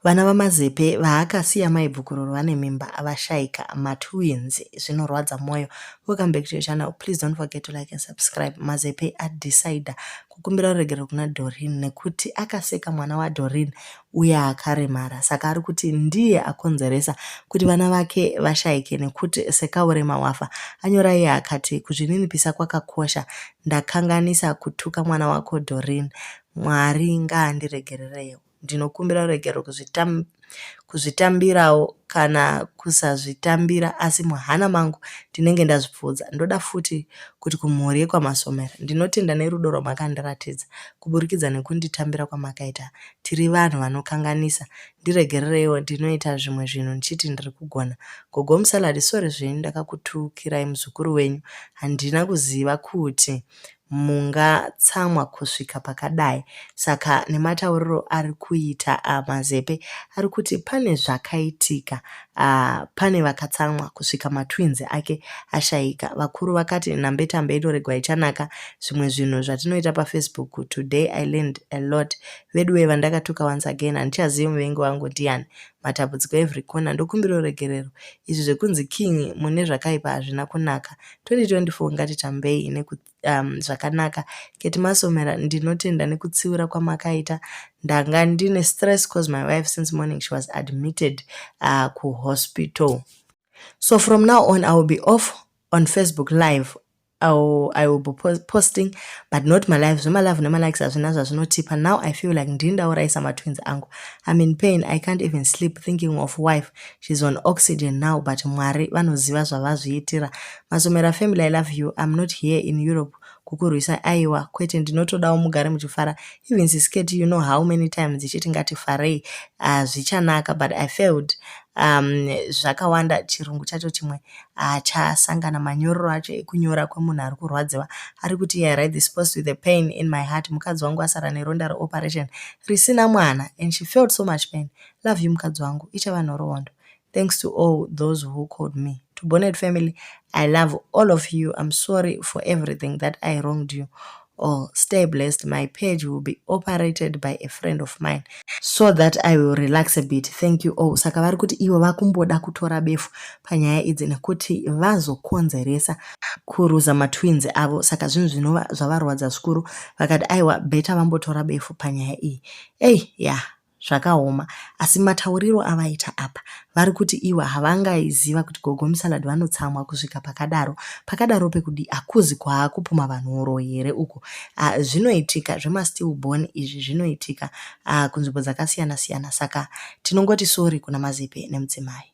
Vana vaMazepe vaakasiya mai Bvukuroro vane mimba vashaika matwins zvinorwadza moyo. Welcome back to your channel. Please don't forget to like and subscribe. Mazepe adecider kukumbira ruregerero kuna Doreen nekuti akaseka mwana waDoreen uye akaremara saka ari kuti ndiye akonzeresa kuti vana vake vashaike nekuti sekaurema wafa. Anyora iye akati kuzvininipisa kwakakosha ndakanganisa kutuka mwana wako Doreen. Mwari ngaandiregererewo. Ndinokumbira ruregerero kuzvitambirawo kana kusazvitambira asi muhana mangu ndinenge ndazvipfuudza. Ndoda futi kuti kumhuri yekwaMasomera. Ndinotenda nerudo rwamakandiratidza kuburikidza nekunditambira kwamakaita. Tiri vanhu vanokanganisa. Ndiregerereiwo ndinoita zvimwe zvinhu ndichiti ndiri kugona. Gogo Musalad sorry zvenyu ndakakutukirai muzukuru wenyu. Handina kuziva kuti mungatsamwa kusvika pakadai saka nematauriro ari kuita uh, mazepe ari kuti pane zvakaitika uh, pane vakatsamwa kusvika matwins ake ashaika vakuru vakati nhambetambe inoregwa ichanaka zvimwe zvinhu zvatinoita pafacebook today i learned a lot veduwe vandakatuka once again handichazivi muvengi wangu ndiani matambudziko every corner ndokumbira uregerero izvi zvekunzi king mune zvakaipa hazvina kunaka 2024 ngatitambei neku um, zvakanaka keti masomera ndinotenda nekutsiura kwamakaita ndanga ndine stress cause my wife since morning she was admitted uh, kuhospital so from now on i will be off on facebook live I'll, I will be posting but not my life zvemalove nemalikes hazvina zvazvinotipa now i feel like ndini ndauraisa matwins angu i'm in pain i can't even sleep thinking of wife she's on oxygen now but mwari vanoziva zvavazviitira masomera family i love you i'm not here in europe kukurwisa aiwa kwete ndinotodawo mugare muchifara even sisketi you know how many times ichiti ngatifarei hazvichanaka ah, uh, but i failed um, zvakawanda chirungu chacho chimwe haachasangana manyorero acho ekunyora kwemunhu ari kurwadziwa ari kuti i write this post with a pain in my heart mukadzi wangu asara neronda reoperation risina mwana and she felt so much pain love you mukadzi wangu ichava nhoroondo thanks to all those who called me to bonnet family i love all of you i'm sorry for everything that i wronged you or stay blessed my page will be operated by a friend of mine so that i will relax a bit thank you all saka vari kuti ivo vakumboda kutora befu panyaya idzi nekuti vazokonzeresa kuruza matwins avo saka zvinhu zvinova zvavarwadza zvikuru vakati aiwa beta vambotora befu panyaya iyi ei ya yeah. Zvakaoma asi matauriro avaita apa vari kuti ivo havangaiziva kuti gogo musalad vanotsamwa kusvika pakadaro pakadaro pekudi akuzi kwaakupuma vanhu uroyi here uko ah, zvinoitika zvemastill born izvi zvinoitika ah, kunzvimbo dzakasiyana siyana saka tinongoti sori kuna mazepe nemudzimai